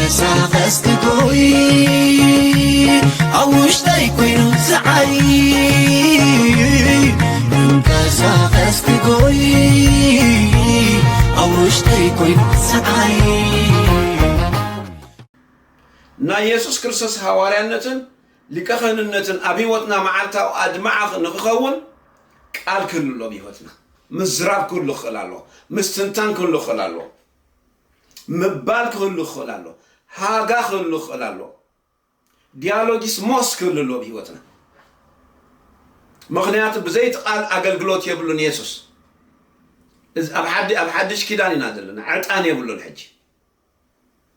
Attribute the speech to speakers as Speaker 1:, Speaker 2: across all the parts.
Speaker 1: ክንቀሳቐስ ክጎይ ኣብ ውሽጠይ ኮይኑ ዝዓይ ክንቀሳቐስ ክጎይ ኣብ ውሽጠይ ኮይኑ ዝዓይ ናይ የሱስ ክርስቶስ ሃዋርያነትን ሊቀ ክህንነትን ኣብ ህይወትና መዓልታዊ ኣድማዕኽ ንክኸውን ቃል ክህሉ ኣሎ ኣብ ህይወትና ምዝራብ ክህሉ ክኽእል ኣለዎ። ምስትንታን ክህሉ ክኽእል ኣለዎ። ምባል ክህሉ ክኽእል ኣለዎ። ሃጋ ክህሉ ክኽእል ኣለዎ። ዲያሎጊስ ሞስ ክህሉ ኣለዎ ብህይወትና። ምኽንያቱ ብዘይ እቲ ቃል ኣገልግሎት የብሉን የሱስ። እዚ ኣብ ሓዲ ኣብ ሓድሽ ኪዳን ኢና ዘለና። ዕጣን የብሉን ሕጂ።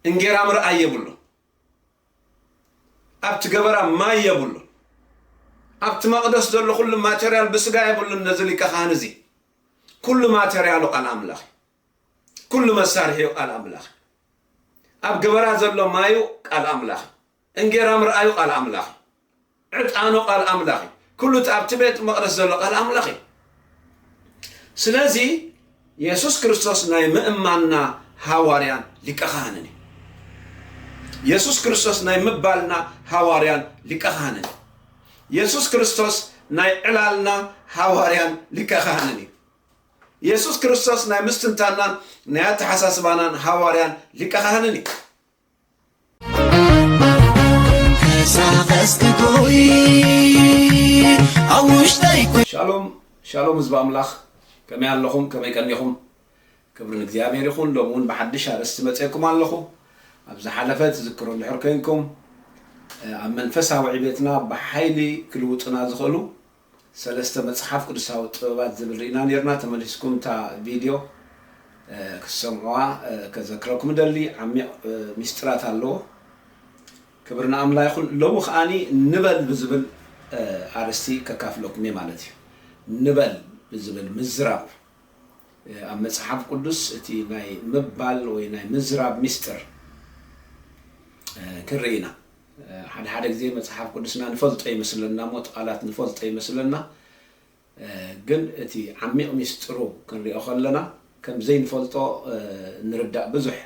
Speaker 1: እንጌራ ምርኣይ የብሉን። ኣብቲ ገበራ ማይ የብሉን። ኣብቲ መቕደስ ዘሎ ኩሉ ማተርያል ብስጋ የብሉን ነዚ ሊቀ ካህን እዚ። ኩሉ ማተርያሉ ቃል ኣምላኽ እዩ። ኩሉ መሳርሒኡ ቃል ኣምላኽ እዩ። ኣብ ገበራ ዘሎ ማዩ ቃል ኣምላኽ እዩ። እንጌራ ምርኣዩ ቃል ኣምላኽ እዩ። ዕጣኑ ቃል ኣምላኽ እዩ። ኩሉ እቲ ኣብቲ ቤት መቕደስ ዘሎ ቃል ኣምላኽ እዩ። ስለዚ የሱስ ክርስቶስ ናይ ምእማንና ሃዋርያን ሊቀ ካህንን እዩ። የሱስ ክርስቶስ ናይ ምባልና ሃዋርያን ሊቀ ካህንን እዩ። የሱስ ክርስቶስ ናይ ዕላልና ሃዋርያን ሊቀ ካህንን እዩ። የሱስ ክርስቶስ ናይ ምስትንታናን ናይ ኣተሓሳስባናን ሃዋርያን ሊቀ ካህንን እዩ። ሻሎም ሻሎም ህዝቢ ኣምላኽ ከመይ ኣለኹም ከመይ ቀኒኹም ክብሪ ንእግዚኣብሔር ይኹን ሎሚ እውን ብሓድሽ ኣርእስቲ መፅኤኩም ኣለኹ ኣብ ዝሓለፈ ትዝክሮ እንድሕር ኮይንኩም ኣብ መንፈሳዊ ዕቤትና ብሓይሊ ክልውጡና ዝኽእሉ ሰለስተ መጽሓፍ ቅዱሳዊ ጥበባት ዝብል ርኢና ኔርና ተመሊስኩም እታ ቪድዮ ክትሰምዑዋ ከዘክረኩም እደሊ ዓሚቕ ሚስጢራት ኣለዎ ክብሪ ንኣምላ ይኹን ሎሚ ከኣኒ ንበል ብዝብል ኣርስቲ ከካፍለኩም እየ ማለት እዩ ንበል ብዝብል ምዝራብ ኣብ መጽሓፍ ቅዱስ እቲ ናይ ምባል ወይ ናይ ምዝራብ ሚስጥር ክንርኢ ኢና ሓደ ሓደ ግዜ መጽሓፍ ቅዱስና ንፈልጦ ይመስለና እሞ እቲ ቃላት ንፈልጦ ይመስለና ግን እቲ ዓሚቕ ሚስጥሩ ክንሪኦ ከለና ከም ዘይንፈልጦ ንርዳእ ብዙሕ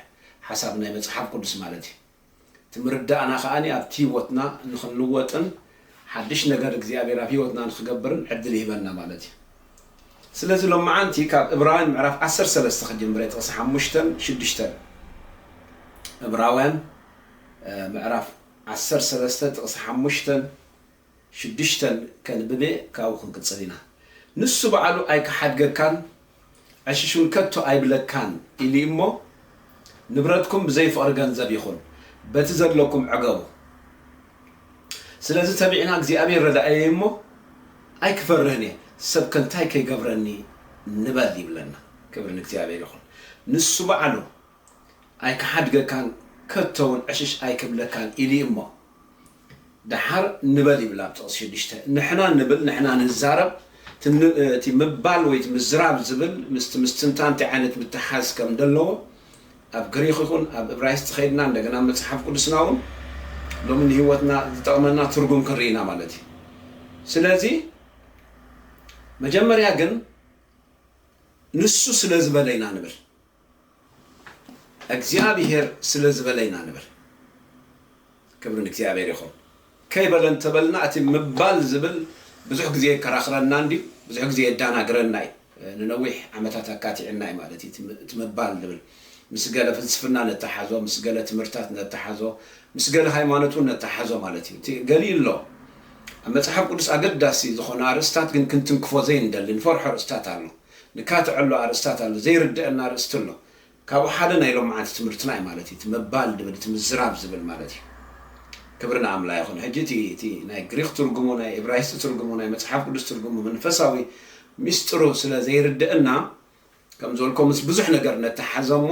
Speaker 1: ሓሳብ ናይ መጽሓፍ ቅዱስ ማለት እዩ እቲ ምርዳእና ከኣ ኣብቲ ህይወትና ንኽንልወጥን ሓድሽ ነገር እግዚኣብሔር ኣብ ህይወትና ንኽገብርን ዕድል ይህበና ማለት እዩ ስለዚ ሎማዓንቲ ካብ እብራውያን ምዕራፍ ዓሰርተ ሰለስተ ክጅምረ ጥቕሲ ሓሙሽተን ሽዱሽተን እብራውያን ምዕራፍ ዓሰርተ ሰለስተ ጥቕሲ ሓሙሽተን ሽዱሽተን ከንብብ እየ፣ ካብኡ ክንቅጽል ኢና። ንሱ ባዕሉ ኣይክሓድገካን፣ ዕሽሽውን ከቶ ኣይብለካን ኢሉ እዩ እሞ፣ ንብረትኩም ብዘይ ፍቕሪ ገንዘብ ይኹን፣ በቲ ዘለኩም ዕገቡ። ስለዚ ተቢዕና እግዚኣብሄር ረዳእየይ እሞ፣ ኣይክፈርህን እየ፣ ሰብከ እንታይ ከይገብረኒ ንበል ይብለና። ክብሪ ንእግዚኣብሄር ይኹን። ንሱ ባዕሉ ኣይክሓድገካን ከቶውን ዕሽሽ ኣይክብለካን ኢሊ እሞ ደሓር ንበል ይብል ኣብ ጥቕሲ ሽዱሽተ ንሕና ንብል ንሕና ንዛረብ እቲ ምባል ወይ ምዝራብ ዝብል ምስቲ ምስትንታን እንታይ ዓይነት ምትሕሓዝ ከም ደለዎ ኣብ ግሪኽ ይኹን ኣብ እብራይስጢ ከይድና እንደገና ኣብ መጽሓፍ ቅዱስና እውን ሎሚ ንህይወትና ዝጠቕመና ትርጉም ክንርኢ ኢና ማለት እዩ ስለዚ መጀመርያ ግን ንሱ ስለ ዝበለ ኢና ንብል እግዚኣብሄር ስለ ዝበለ ኢና ንብል። ክብሪ ንእግዚኣብሄር ይኹን። ከይበለ እንተ በልና እቲ ምባል ዝብል ብዙሕ ግዜ የከራኽረና እንድዩ። ብዙሕ ግዜ የዳናግረና እዩ። ንነዊሕ ዓመታት ኣካቲዑና እዩ ማለት እዩ እቲ ምባል ዝብል። ምስ ገለ ፍልስፍና ነተሓሕዞ፣ ምስ ገለ ትምህርትታት ነተሓሕዞ፣ ምስ ገለ ሃይማኖት እውን ነተሓሕዞ ማለት እዩ። እቲ ገሊኡ ኣሎ። ኣብ መጽሓፍ ቅዱስ ኣገዳሲ ዝኾነ ኣርእስትታት ግን ክንትንክፎ ዘይንደሊ፣ ንፈርሖ ኣርእስትታት ኣሎ። ንካትዐሉ ኣርእስታት ኣሎ ዘይርደኣና ኣርእስቲ ኣሎ ካብኡ ሓደ ናይ ሎምዓንቲ ትምህርትና እዩ ማለት እዩ እቲ ምባል ድብል እቲ ምዝራብ ዝብል ማለት እዩ ክብሪ ንኣምላ ይኹን ሕጂ እቲ እቲ ናይ ግሪኽ ትርጉሙ ናይ እብራይስጢ ትርጉሙ ናይ መጽሓፍ ቅዱስ ትርጉሙ መንፈሳዊ ሚስጥሩ ስለ ዘይርደኣና ከም ዘልኮ ምስ ብዙሕ ነገር ነተሓዘ እሞ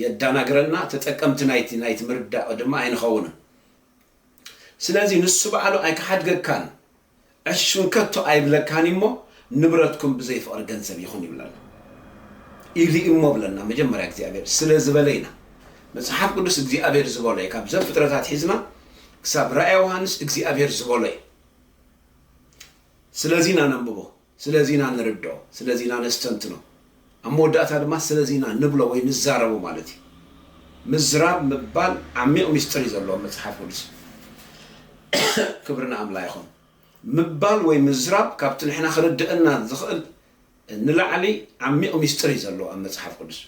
Speaker 1: የዳናግረና ተጠቀምቲ ናይቲ ናይቲ ምርዳእ ድማ ኣይንኸውንን ስለዚ ንሱ ባዕሉ ኣይክሓድገካን ዕሽም ከቶ ኣይብለካን እዩሞ ንብረትኩም ብዘይ ፍቅሪ ገንዘብ ይኹን ይብለና ኢሊ እሞ ብለና መጀመርያ እግዚኣብሔር ስለ ዝበለ ኢና መጽሓፍ ቅዱስ እግዚኣብሔር ዝበሎ እዩ ካብ ዘፍጥረት ኣትሒዝና ክሳብ ራእያ ዮሃንስ እግዚኣብሔር ዝበሎ እዩ ስለዚ ኢና ነንብቦ ስለዚ ኢና ንርድኦ፣ ስለዚ ኢና ነስተንትኖ፣ ኣብ መወዳእታ ድማ ስለዚ ኢና ንብሎ ወይ ንዛረቦ ማለት እዩ። ምዝራብ ምባል ዓሚቕ ምስጢር እዩ ዘለዎ ኣብ መጽሓፍ ቅዱስ። ክብሪ ንኣምላ ይኹን። ምባል ወይ ምዝራብ ካብቲ ንሕና ክርድእና ዝኽእል ንላዕሊ ዓሚቕ ምስጢር እዩ ዘለዎ ኣብ መጽሓፍ ቅዱስ።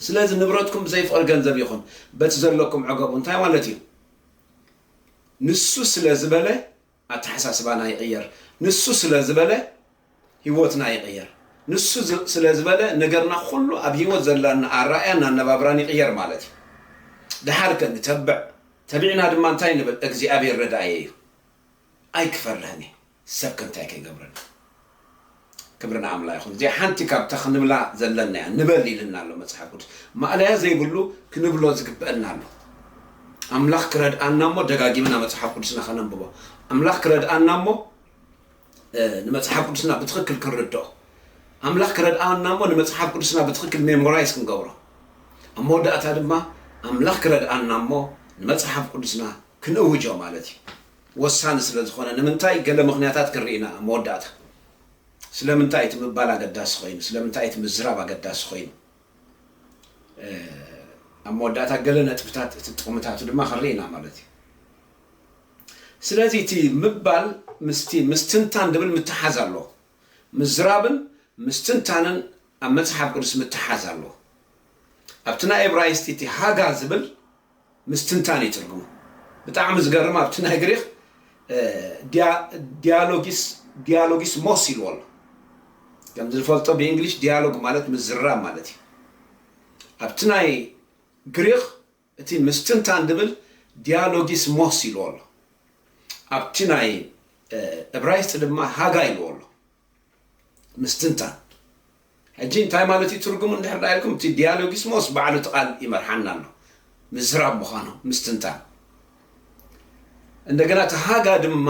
Speaker 1: ስለዚ ንብረትኩም ብዘይ ፍቕሪ ገንዘብ ይኹን፣ በቲ ዘለኩም ዕገቡ እንታይ ማለት እዩ? ንሱ ስለ ዝበለ ኣተሓሳስባና ይቕየር ንሱ ስለ ዝበለ ሂወትና ይቕየር ንሱ ስለ ዝበለ ነገርና ኩሉ ኣብ ሂወት ዘላና ኣራእያን ኣነባብራን ይቕየር ማለት እዩ ደሓር ከ ንተብዕ ተቢዕና ድማ እንታይ ንብል እግዚኣብሔር ረዳእየ እዩ ኣይክፈርህን እየ ሰብ ከ እንታይ ከይገብረኒ ክብሪ ንኣምላ ይኹን እዚኣ ሓንቲ ካብታ ክንብላ ዘለና እያ ንበል ኢልና ኣሎ መጽሓፍ ቅዱስ ማእለያ ዘይብሉ ክንብሎ ዝግበአና ኣሎ ኣምላኽ ክረድኣና እሞ ደጋጊምና መጽሓፍ ቅዱስና ከነንብቦ ኣምላኽ ክረድኣና እሞ ንመጽሓፍ ቅዱስና ብትኽክል ክንርድኦ ኣምላኽ ክረድኣና እሞ ንመጽሓፍ ቅዱስና ብትኽክል ሜሞራይዝ ክንገብሮ ኣብ መወዳእታ ድማ ኣምላኽ ክረድኣና እሞ ንመጽሓፍ ቅዱስና ክንእውጆ ማለት እዩ ወሳኒ ስለ ዝኾነ ንምንታይ ገለ ምኽንያታት ክንርኢ ኢና ኣብ መወዳእታ። ስለምንታይ እቲ ምባል ኣገዳሲ ኮይኑ፣ ስለምንታይ እቲ ምዝራብ ኣገዳሲ ኮይኑ፣ ኣብ መወዳእታ ገለ ነጥብታት እቲ ጥቕምታቱ ድማ ክንርኢ ኢና ማለት እዩ። ስለዚ እቲ ምባል ምስቲ ምስትንታን ድብል ምትሓዝ ኣለዎ። ምዝራብን ምስትንታንን ኣብ መጽሓፍ ቅዱስ ምትሓዝ ኣለዎ። ኣብቲ ናይ እብራይስጢ እቲ ሃጋ ዝብል ምስትንታን እዩ ትርጉሙ። ብጣዕሚ ዝገርም ኣብቲ ናይ ግሪኽ ዲያሎጊስ ዲያሎጊስ ሞስ ኢልዎ ኣሎ። ከምዚ ንፈልጦ ብእንግሊሽ ዲያሎግ ማለት ምዝራብ ማለት እዩ። ኣብቲ ናይ ግሪኽ እቲ ምስትንታን ዝብል ዲያሎጊስ ሞስ ኢልዎ ኣሎ። ኣብቲ ናይ እብራይስጢ ድማ ሃጋ ኢልዎ ኣሎ። ምስትንታን ሕጂ እንታይ ማለት እዩ ትርጉሙ እንድሕር ደኣ ኢልኩም እቲ ዲያሎጊስሞስ ባዕሉ እቲ ቃል ይመርሓና ኣሎ ምዝራብ ምዃኑ ምስትንታን እንደገና እቲ ሃጋ ድማ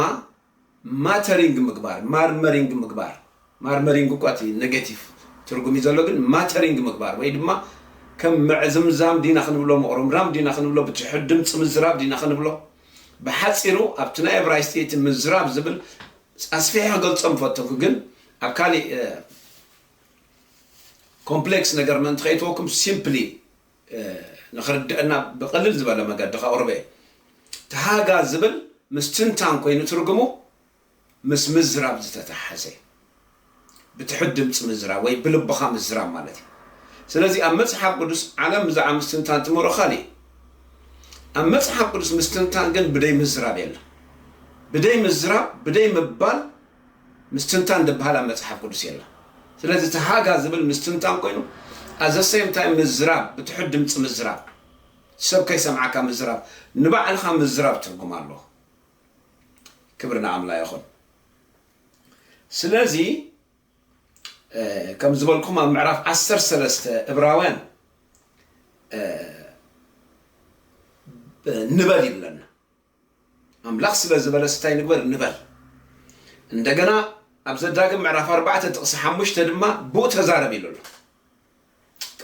Speaker 1: ማተሪንግ ምግባር ማርመሪንግ ምግባር ማርመሪንግ እኳ እቲ ኔጌቲቭ ትርጉም እዩ ዘሎ ግን ማተሪንግ ምግባር ወይ ድማ ከም ምዕዝምዛም ዲና ክንብሎ ምቕሮምራም ዲና ክንብሎ ብትሑት ድምፂ ምዝራብ ዲና ክንብሎ ብሓፂሩ ኣብቲ ናይ እብራይስጢ እቲ ምዝራብ ዝብል ኣስፊሐ ክገልጾ ምፈተኩ ግን ኣብ ካሊእ ኮምፕሌክስ ነገር ምእንቲ ከይእትወኩም ሲምፕሊ ንክርደኣና ብቅልል ዝበለ መገዲ ከቅርቦ እየ። ተሃጋ ዝብል ምስ ትንታን ኮይኑ ትርጉሙ ምስ ምዝራብ ዝተታሓሐዘ እዩ። ብትሑት ድምጺ ምዝራብ ወይ ብልብኻ ምዝራብ ማለት እዩ። ስለዚ ኣብ መጽሓፍ ቅዱስ ዓለም ብዛዕባ ምስትንታን ትምህሮ ካልእ እዩ። ኣብ መጽሓፍ ቅዱስ ምስትንታን ግን ብደይ ምዝራብ የለን። ብደይ ምዝራብ ብደይ ምባል ምስትንታን ድብሃል ኣብ መጽሓፍ ቅዱስ የለን። ስለዚ እቲ ሃጋ ዝብል ምስትንታን ኮይኑ ኣብ ዘሰይም ታይም ምዝራብ ብትሑት ድምጺ ምዝራብ ሰብ ከይሰምዓካ ምዝራብ ንባዕልኻ ምዝራብ ትርጉም ኣለዎ። ክብሪ ንኣምላ ይኹን። ስለዚ ከም ዝበልኩም ኣብ ምዕራፍ ዓሰርተ ሰለስተ እብራውያን ንበል ይብለና ኣምላኽ ስለ ዝበለስ እንታይ ንግበር ንበል እንደገና ኣብ ዘዳግም ምዕራፍ ኣርባዕተ ጥቕሲ ሓሙሽተ ድማ ብኡ ተዛረብ ኢሉ ኣሎ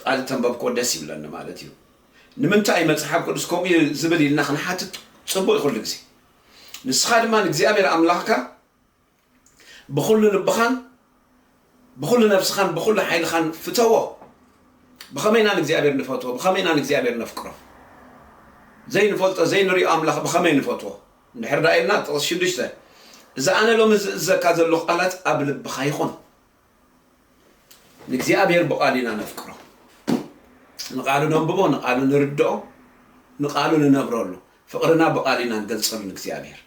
Speaker 1: ቃል እተንበብክዎ ደስ ይብለኒ ማለት እዩ ንምንታይ እዩ መጽሓፍ ቅዱስ ከምኡ እዩ ዝብል ኢልና ክንሓትት ጽቡቅ እዩ ኩሉ ግዜ ንስኻ ድማ ንእግዚኣብሔር ኣምላኽካ ብኹሉ ልብኻን ብኹሉ ነብስኻን ብኹሉ ሓይልኻን ፍተዎ ብኸመይ ኢና ንእግዚኣብሔር ንፈትዎ ብኸመይ ኢና ንእግዚኣብሔር ነፍቅሮ ዘይንፈልጦ ዘይንሪኦ ኣምላኽ ብኸመይ ንፈትዎ እንድሕር ዳ ኢልና ጥቕስ ሽዱሽተ እዚ ኣነ ሎሚ ዝእዘካ ዘለኹ ቃላት ኣብ ልብኻ ይኹን ንእግዚኣብሔር ብቓሉ ኢና ነፍቅሮ። ንቓሉ ነንብቦ፣ ንቓሉ ንርድኦ፣ ንቓሉ ንነብረሉ። ፍቕርና ብቓል ኢና ንገልጸሉ ንእግዚኣብሔር።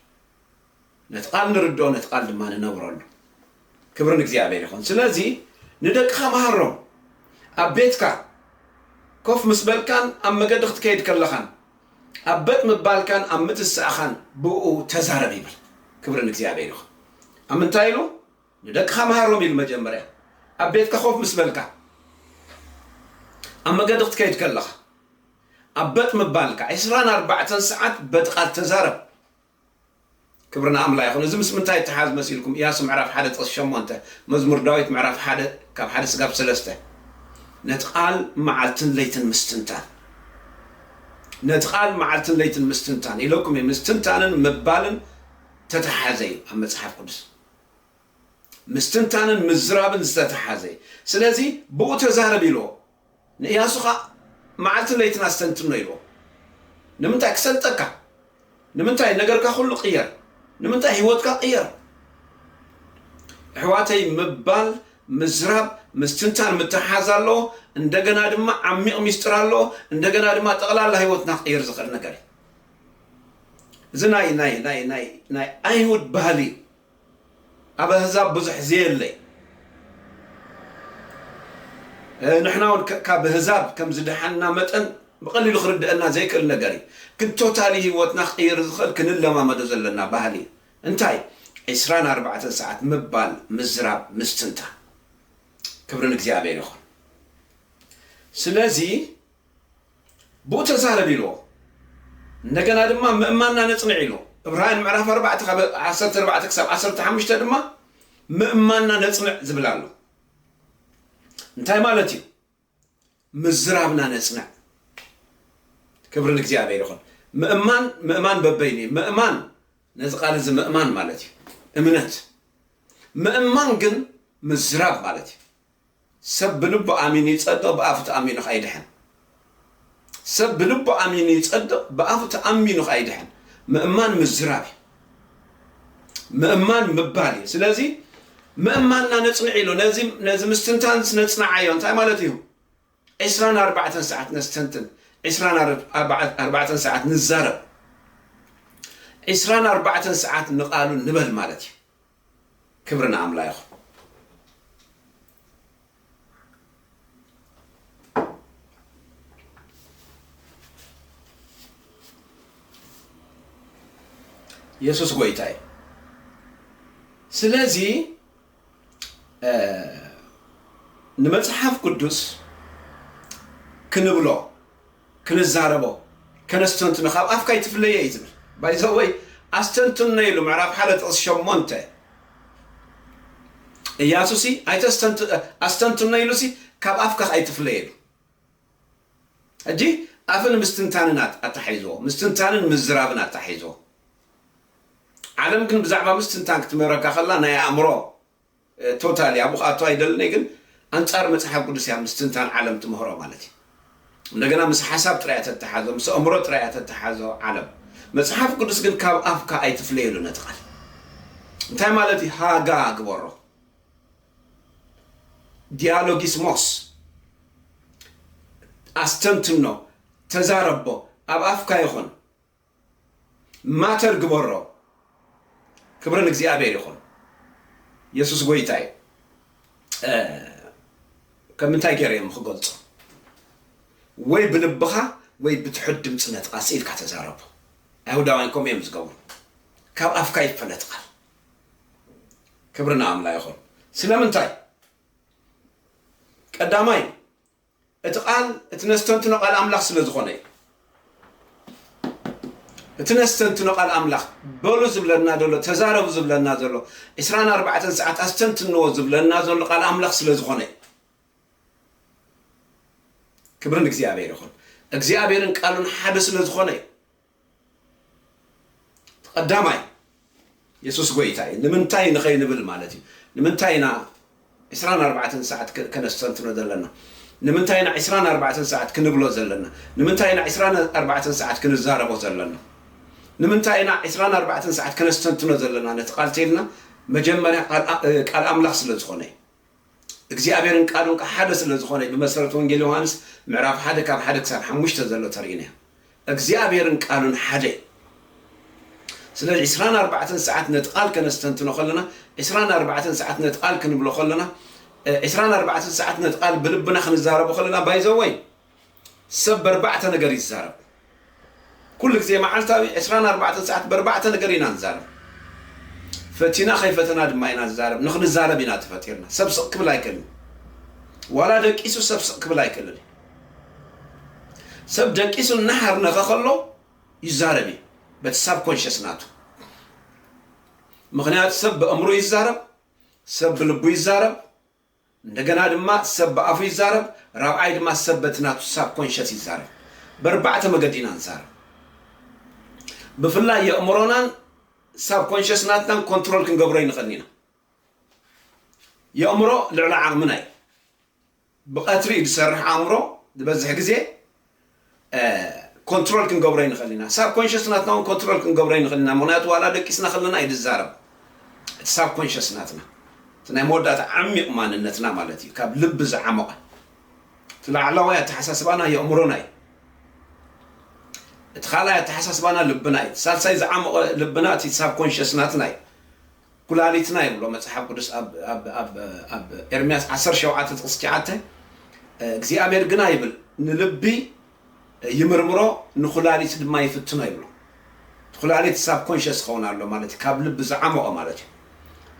Speaker 1: ነቲ ቓል ንርድኦ፣ ነቲ ቓል ድማ ንነብረሉ። ክብሪ ንእግዚኣብሔር ይኹን። ስለዚ ንደቅኻ መሃሮም። ኣብ ቤትካ ኮፍ ምስ በልካን ኣብ መገዲ ክትከይድ ከለኻን ኣብ በጥ ምባልካን ኣብ ምትሳእኻን ብእኡ ተዛረብ ይብል። ክብሪ ንእግዚኣብሔር ይኹን። ኣብ ምንታይ ኢሉ? ንደቅኻ ምሃሮም ኢሉ መጀመርያ ኣብ ቤትካ ኮፍ ምስ በልካ ኣብ መገዲ ክትከይድ ከለኻ ኣብ በጥ ምባልካ ዕስራን ኣርባዕተን ሰዓት በቲ ቃል ተዛረብ ክብሪ ንኣምላ ይኹን እዚ ምስ ምንታይ ይተሓዝ መሲልኩም ኢያሱ ምዕራፍ ሓደ ጥቕሲ ሸሞንተ መዝሙር ዳዊት ምዕራፍ ሓደ ካብ ሓደ ስጋብ ሰለስተ ነቲ ቃል መዓልትን ለይትን ምስትንታን ነቲ ቃል መዓልትን ለይትን ምስትንታን ኢለኩም እየ ምስትንታንን ምባልን ተተሓዘ እዩ ኣብ መጽሓፍ ቅዱስ ምስትንታንን ምዝራብን ዝተተሓዘ እዩ። ስለዚ ብኡ ተዛረብ ኢልዎ። ንእያሱ ኸኣ መዓልትን ለይትን ኣስተንትኖ ኢልዎ። ንምንታይ? ክሰልጠካ። ንምንታይ? ነገርካ ኩሉ ቅየር። ንምንታይ? ህይወትካ ቅየር። ኣሕዋተይ ምባል፣ ምዝራብ፣ ምስትንታን ምትሕሓዝ ኣለዎ። እንደገና ድማ ዓሚቕ ሚስጥር ኣለዎ። እንደገና ድማ ጠቕላላ ህይወትና ክቕይር ዝኽእል ነገር እዩ። እዚ ናይ ናይ ናይ ናይ ናይ ኣይሁድ ባህሊ እዩ ኣብ ኣህዛብ ብዙሕ ዘየለ እዩ ንሕና እውን ካብ ህዛብ ከም ዝደሓንና መጠን ብቐሊሉ ክርድአና ዘይክእል ነገር እዩ ግን ቶታሊ ህይወትና ክቕይር ዝኽእል ክንለማመዶ ዘለና ባህሊ እዩ እንታይ ዕስራን ኣርባዕተን ሰዓት ምባል ምዝራብ ምስትንታ ክብሪ ንእግዚኣብሔር ይኹን ስለዚ ብኡ ተዛረብ ኢልዎ። እንደገና ድማ ምእማንና ነጽንዕ ኢልዎ። እብራውያን ምዕራፍ ኣርባዕተ ካብ ዓሰርተ ኣርባዕተ ክሳብ ዓሰርተ ሓሙሽተ ድማ ምእማንና ነጽንዕ ዝብል ኣሎ። እንታይ ማለት እዩ? ምዝራብና ነጽንዕ። ክብሪ ንእግዚኣብሔር ይኹን። ምእማን ምእማን በበይኑ እዩ። ምእማን ነዚ ቃል እዚ ምእማን ማለት እዩ እምነት። ምእማን ግን ምዝራብ ማለት እዩ። ሰብ ብልቡ ኣሚኑ ይጸድቕ ብኣፉ ተኣሚኑ ከኣ ይድሕን። ሰብ ብልቡ ኣሚኑ ይጸድቕ ብኣፉ ተኣሚኑ ከኣ ይድሕን። ምእማን ምዝራብ እዩ። ምእማን ምባል እዩ። ስለዚ ምእማንና ነጽንዕ ኢሉ ነዚ ምስትንታንስ ነጽንዓዮ እንታይ ማለት እዩ? ዕስራን ኣርባዕተን ሰዓት ነስተንትን፣ ዕስራን ኣርባዕተን ሰዓት ንዛረብ፣ ዕስራን ኣርባዕተን ሰዓት ንቃሉ ንበል ማለት እዩ። ክብሪ ንኣምላ ይኹን። የሱስ ጎይታ እዩ ስለዚ። ንመጽሓፍ ቅዱስ ክንብሎ ክንዛረቦ ከነስተንትኖ ካብ ኣፍካ ኣይትፍለየ እዩ ዝብል ባይዘወይ ኣስተንትኖ ኢሉ ምዕራፍ ሓደ ጥቕሲ ሸሞንተ እያሱሲ ኣስተንትኖ ኢሉሲ ካብ ኣፍካ ኣይትፍለየ ኢሉ ሕጂ ኣፍን ምስትንታንን ኣተሓሒዝዎ፣ ምስትንታንን ምዝራብን ኣተሓሒዝዎ። ዓለም ግን ብዛዕባ ምስትንታን ክትምህረካ ከላ ናይ ኣእምሮ ቶታሊ ኣብኡ ክኣቱ ኣይደልን እየ ግን ኣንጻር መጽሓፍ ቅዱስ እያ ምስትንታን ዓለም ትምህሮ ማለት እዩ። እንደገና ምስ ሓሳብ ጥራይ እያ ተተሓዞ፣ ምስ ኣእምሮ ጥራይ እያ ተተሓዞ ዓለም። መጽሓፍ ቅዱስ ግን ካብ ኣፍካ ኣይትፍለየሉ ነቲ ቃል እንታይ ማለት እዩ ሃጋ ግበሮ ዲያሎጊስሞስ ኣስተንትኖ ተዛረቦ ኣብ ኣፍካ ይኹን ማተር ግበሮ ክብሪ ንእግዚኣብሔር ይኹን የሱስ ጎይታ እዩ ከም እንታይ ገይረ እዮም ክገልጾ ወይ ብልብኻ ወይ ብትሑት ድምፂ ነጥቓ ስኢልካ ተዛረቦ ኣይሁዳውያን ከምኡ እዮም ዝገብሩ ካብ ኣፍካ ይፈለጥ ቃል ክብሪ ንኣምላ ይኹን ስለምንታይ ቀዳማይ እቲ ቃል እቲ ነስተንትኖ ቃል ኣምላኽ ስለ ዝኾነ እዩ እቲ ነስተንትኖ ቃል ኣምላኽ በሉ ዝብለና ዘሎ ተዛረቡ ዝብለና ዘሎ ዕስራን ኣርባዕተን ሰዓት ኣስተንትንዎ ዝብለና ዘሎ ቃል ኣምላኽ ስለ ዝኾነ እዩ ክብሪ ንእግዚኣብሔር ይኹን እግዚኣብሔርን ቃሉን ሓደ ስለ ዝኾነ እዩ እቲ ቀዳማይ የሱስ ጐይታ እዩ ንምንታይ ንኸይንብል ማለት እዩ። ንምንታይ ኢና ዕስራን ኣርባዕተን ሰዓት ከነስተንትኖ ዘለና? ንምንታይ ኢና ዕስራን ኣርባዕተን ሰዓት ክንብሎ ዘለና? ንምንታይ ኢና ዕስራን ኣርባዕተን ሰዓት ክንዛረቦ ዘለና? ንምንታይ ኢና ዕስራን ኣርባዕተን ሰዓት ከነስተንትኖ ዘለና ነቲ ቃል ተይልና መጀመርያ ቃል ኣምላኽ ስለ ዝኾነ እዩ። እግዚኣብሔርን ቃሉን ከኣ ሓደ ስለ ዝኾነ ብመሰረት ወንጌል ዮሃንስ ምዕራፍ ሓደ ካብ ሓደ ክሳብ ሓሙሽተ ዘሎ ተሪኢና እግዚኣብሔርን ቃሉን ሓደ ስለዚ ዕስራን ኣርባዕተን ሰዓት ነቲ ቃል ከነስተንትኖ ከለና ዕስራን ኣርባዕተን ሰዓት ነቲ ቃል ክንብሎ ከለና ዕስራን ኣርባዕተን ሰዓት ነቲ ቃል ብልብና ክንዛረቦ ከለና ባይዘወይ ሰብ በርባዕተ ነገር ይዛረብ ኩሉ ግዜ መዓልታዊ ዕስራን ኣርባዕተን ሰዓት በርባዕተ ነገር ኢና ንዛረብ ፈቲና ከይፈተና ድማ ኢና ንዛረብ ንክንዛረብ ኢና ተፈጢርና ሰብ ስቅ ክብል ኣይክእልን ዋላ ደቂሱ ሰብ ስቅ ክብል ኣይክእልን ሰብ ደቂሱ እናሃርነኸ ከሎ ይዛረብ እዩ በቲ ሳብ ኮንሽስ ናቱ ምክንያቱ ሰብ ብእምሩ ይዛረብ ሰብ ብልቡ ይዛረብ እንደገና ድማ ሰብ ብኣፉ ይዛረብ ራብዓይ ድማ ሰብ በቲ ናቱ ሳብ ኮንሸስ ይዛረብ በርባዕተ መገዲ ኢና ንዛረብ ብፍላይ የእምሮናን ሳብ ኮንሸስ ናትናን ኮንትሮል ክንገብሮ ይንኸን ኢና የእምሮ ልዕሊ ዓቕምና እዩ ብቐትሪ እዩ ዝሰርሕ ኣእምሮ ዝበዝሕ ግዜ ኮንትሮል ክንገብሮ ይንኽእል ኢና። ሳብ ኮንሸስ ናትና ውን ኮንትሮል ክንገብሮ ይንኽእል ኢና ምኽንያቱ ዋላ ደቂስና ከለና እዩ ዝዛረብ እቲ ሳብ ኮንሸስ ናትና እቲ ናይ መወዳእታ ዓሚቕ ማንነትና ማለት እዩ ካብ ልቢ ዝዓሞቐ እቲ ላዕላዋይ ኣተሓሳስባና የእምሮና እዩ እቲ ካልኣይ ኣተሓሳስባና ልብና እዩ ሳልሳይ ዝዓሞቐ ልብና እቲ ሳብ ኮንሸስ ናትና እዩ ኩላሊትና ይብሎ መጽሓፍ ቅዱስ ኣብ ኤርምያስ ዓሰርተ ሸውዓተ ጥቕሲ ትሽዓተ እግዚኣብሔር ግና ይብል ንልቢ ይምርምሮ ንኩላሊት ድማ ይፍትኖ ይብሎ ኩላሊት ሳብ ኮንሸስ ክኸውን ኣሎ ማለት እዩ ካብ ልቢ ዝዓመቖ ማለት እዩ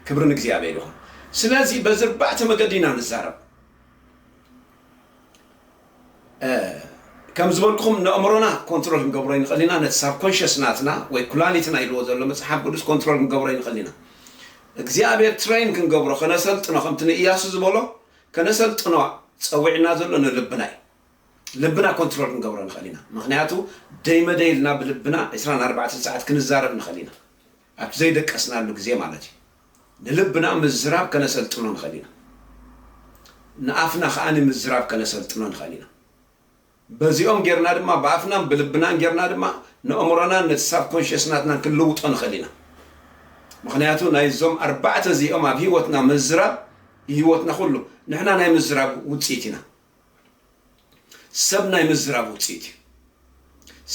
Speaker 1: ክብሪ ንእግዚኣብሔር ይኹን ስለዚ በዚ ኣርባዕተ መገዲ ኢና ንዛረብ ከም ዝበልኩኹም ነእምሮና ኮንትሮል ክንገብሮ ይንኽእል ኢና ነቲ ሳብኮንሸስ ናትና ወይ ኩላሊትና ኢልዎ ዘሎ መጽሓፍ ቅዱስ ኮንትሮል ክንገብሮ ይንኽእል ኢና እግዚኣብሔር ትሬን ክንገብሮ ከነሰልጥኖ ከምቲ ንእያሱ ዝበሎ ከነሰልጥኖ ጸዊዕና ዘሎ ንልብና እዩ ልብና ኮንትሮል ክንገብሮ ንኽእል ኢና ምክንያቱ ደይመደይ ኢልና ብልብና 24 ሰዓት ክንዛረብ ንኽእል ኢና ኣብ ዘይደቀስናሉ ግዜ ማለት እዩ። ንልብና ምዝራብ ከነሰልጥኖ ንኽእል ኢና። ንኣፍና ከኣ ምዝራብ ከነሰልጥኖ ንኽእል ኢና። በዚኦም ጌርና ድማ ብኣፍናን ብልብናን ጌርና ድማ ነእምሮናን ነቲ ሳብኮንሽየስ ናትናን ክንልውጦ ንኽእል ኢና። ምኽንያቱ ናይዞም ኣርባዕተ እዚኦም ኣብ ህይወትና ምዝራብ ንህይወትና ኩሉ ንሕና ናይ ምዝራብ ውጽኢት ኢና። ሰብ ናይ ምዝራብ ውጽኢት እዩ።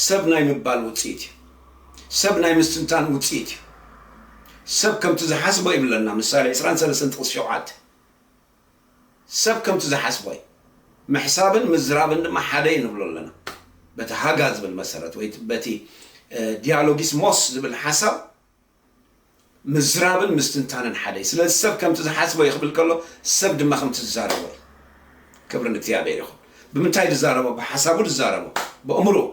Speaker 1: ሰብ ናይ ምባል ውጽኢት እዩ። ሰብ ናይ ምስትንታን ውጽኢት እዩ። ሰብ ከምቲ ዝሓስቦ ይብለና ምሳሌ ዕስራን ሰለስተን ጥቕሲ ሸውዓተ። ሰብ ከምቲ ዝሓስቦ እዩ። ምሕሳብን ምዝራብን ድማ ሓደ እዩ ንብሎ ኣለና። በቲ ሃጋ ዝብል መሰረት ወይ በቲ ዲያሎጊስሞስ ዝብል ሓሳብ ምዝራብን ምስትንታንን ሓደ እዩ። ስለዚ ሰብ ከምቲ ዝሓስቦ እዩ ክብል ከሎ ሰብ ድማ ከምቲ ዝዛረቦ እዩ። ክብሪ ንእግዚኣብሔር ይኹን። ብምንታይ ድዛረቦ? ብሓሳቡ ድዛረቦ፣ በእምርኡ፣